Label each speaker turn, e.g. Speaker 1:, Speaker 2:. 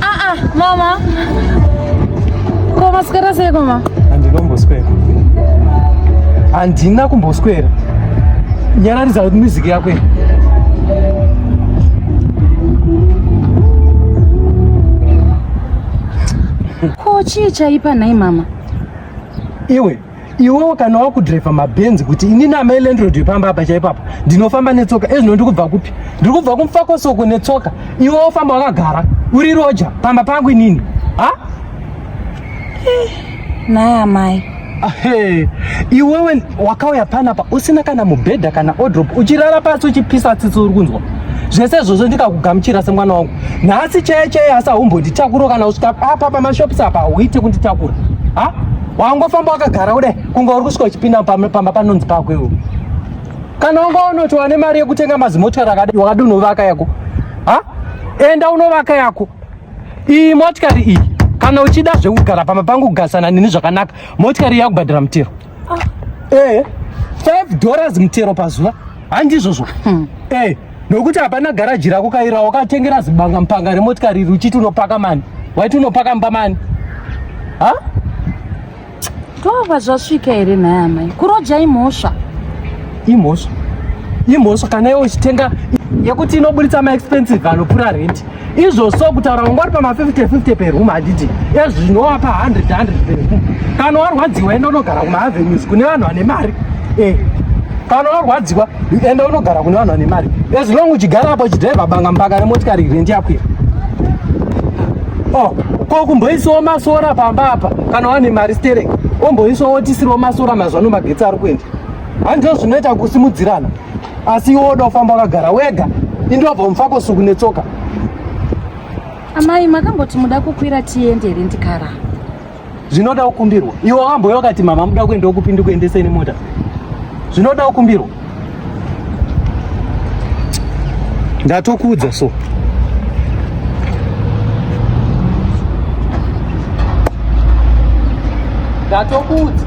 Speaker 1: Ah ah, mama. Koma skera sei koma? Andinomboswera.
Speaker 2: Andina kumboswera. Nyararidza kuti music yako.
Speaker 1: Ko chii chaipa nhai mama? Iwe
Speaker 2: iwewo kana wakudriver mabhenzi kuti inini amai landrod yepamba apa chaipapa ndinofamba netsoka ezvino ndiri kubva kupi ndiri kubva kumufakosoko netsoka iwe wofamba wakagara uri roja pamba pangu inini ha eh,
Speaker 1: naya mai Hey,
Speaker 2: iwewe wakauya panapa usina kana mubhedha kana odrop uchirara pasi uchipisa tsitsi uri kunzwa zvese izvozvo ndikakugamuchira semwana wangu nhasi cheye cheye asi haumbotitakuro kana usvika apa pamashops apa hauite kunditakura ha wangofamba wakagara kudai kunge uri kusvika uchipinda pamba panonzi pako iwo kana wanga unoti wane mari yekutenga mazimotikari akadai wakadi unovaka yako ha enda unovaka yako iyi motikari iyi kana uchida zvekugara pamba pangu kugarisana neni zvakanaka motikari yakubhadhira mutero ah. eh, five dollars mutero pazuva handizvozvo hmm. eh, nokuti hapana garaji rako kaira wakatengera zibanga mupanga remotikari iri uchiti unopaka mani waiti unopaka mba mani ha
Speaker 1: ndova zvasvika here nhaya amai kuroja imhosva imhosva imhosva kana iwe uchitenga
Speaker 2: yekuti inoburitsa maexpensive anopura rendi izvo so kutaura vanga vari pama 50 50 per room handiti ezvi zvinova pa 100 100 per room kana warwadziwa enda unogara kuma avenues kune vanhu vane mari eh kana warwadziwa enda unogara kune vanhu vane mari as long uchigara apo uchidriva banga mbanga remotikari irendi yako iyo oh ko kumboisawo masora pamba apa kana wane mari sterek omboisawo tisiriwo masora mazvano magetsi ari kuenda handizvo zvinoita kusimudzirana asi iwe woda kufamba wakagara wega indobva mufako suku netsoka amai
Speaker 1: makamboti muda kukwira tiende here ndikara zvinoda
Speaker 2: kukumbirwa iwe wakamboya ukati mama muda kuenda kupi ndikuendesei nemota zvinoda kukumbirwa ndatokuudza so ndatokuudza